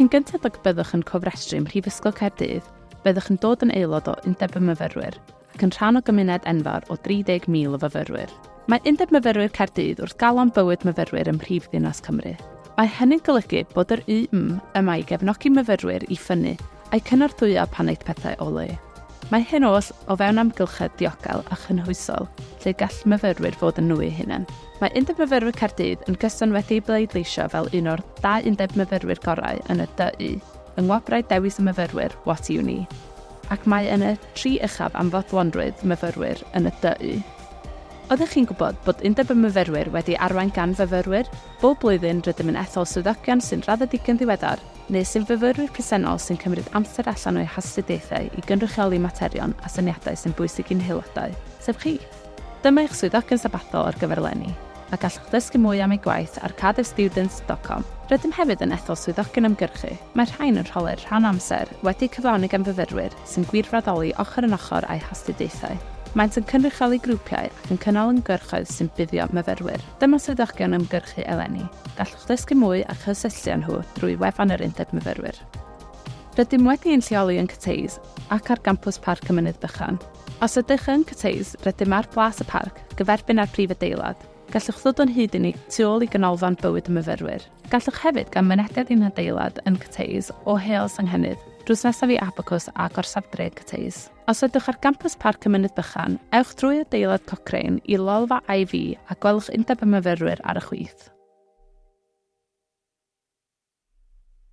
Cyn gynted ag y byddwch yn cofrestru ym Mhrifysgol Caerdydd, byddwch yn dod yn aelod o Undeb y Myfyrwyr ac yn rhan o gymuned enfawr o 30,000 o fyfyrwyr. Mae Undeb Myfyrwyr Caerdydd wrth galon bywyd myfyrwyr ym mhrif ddinas Cymru. Mae hynny'n golygu bod yr UM yma i gefnogi myfyrwyr i ffynnu a'u cynorthwyo pan aeth pethau o le. Mae hyn oll o fewn amgylchedd diogel a chynhwysol lle gall myfyrwyr fod yn nhw eu hunain. Mae Undeb Myfyrwyr Caerdydd yn gyson wedi'i bleidleisio fel un o'r dau undeb myfyrwyr gorau yn y DU yng Ngwobrau Dewis y Myfyrwyr What Uni? ac mae yn y tri uchaf am fodlonrwydd myfyrwyr yn y DU. Oeddech chi'n gwybod bod Undeb y Myfyrwyr wedi arwain gan fyfyrwyr? Bob blwyddyn rydym yn ethol swyddogion sy'n raddedigion ddiweddar neu sy'n fyfyrwyr presennol sy'n cymryd amser allan o'u hastudiaethau i gynrychioli materion a syniadau sy'n bwysig i'n haelodau, sef chi. Dyma eich swyddogion sabathol ar gyfer eleni, a gallwch ddysgu mwy am eu gwaith ar cardiffstudents.com. Rydym hefyd yn ethol swyddogion ymgyrchu, mae'r rhain yn rholau'r rhan amser wedi'u cyflawni gan fyfyrwyr sy'n gwirfoddoli ochr yn ochr â'u hastudiaethau. Maent yn cynrychioli grwpiau ac yn cynnal ymgyrchoedd sy'n buddio myfyrwyr. Dyma swyddogion ymgyrchu eleni, gallwch ddysgu mwy a chysylltu â nhw drwy wefan yr Undeb Myfyrwyr. Rydym wedi ein lleoli yn Cathays ac ar gampws Parc y Mynydd Bychan. Os ydych yn cwtshïs, rydym ar Blas y Parc, gyferbyn â'r prif adeilad. Gallwch ddod o'n hyd i ni tu ôl i Ganolfan Bywyd y Myfyrwyr. Gallwch hefyd gael mynediad i'n hadeilad yn Cwtshïs o Heol Senghennydd, drws nesaf i Abacws a Gorsaf Dref Cwtshïs. Os ydwch ar gampws Parc y Mynydd Bychan, ewch drwy adeilad Cochrane i lolfa IVy a gwelwch Undeb y Myfyrwyr ar y chwith.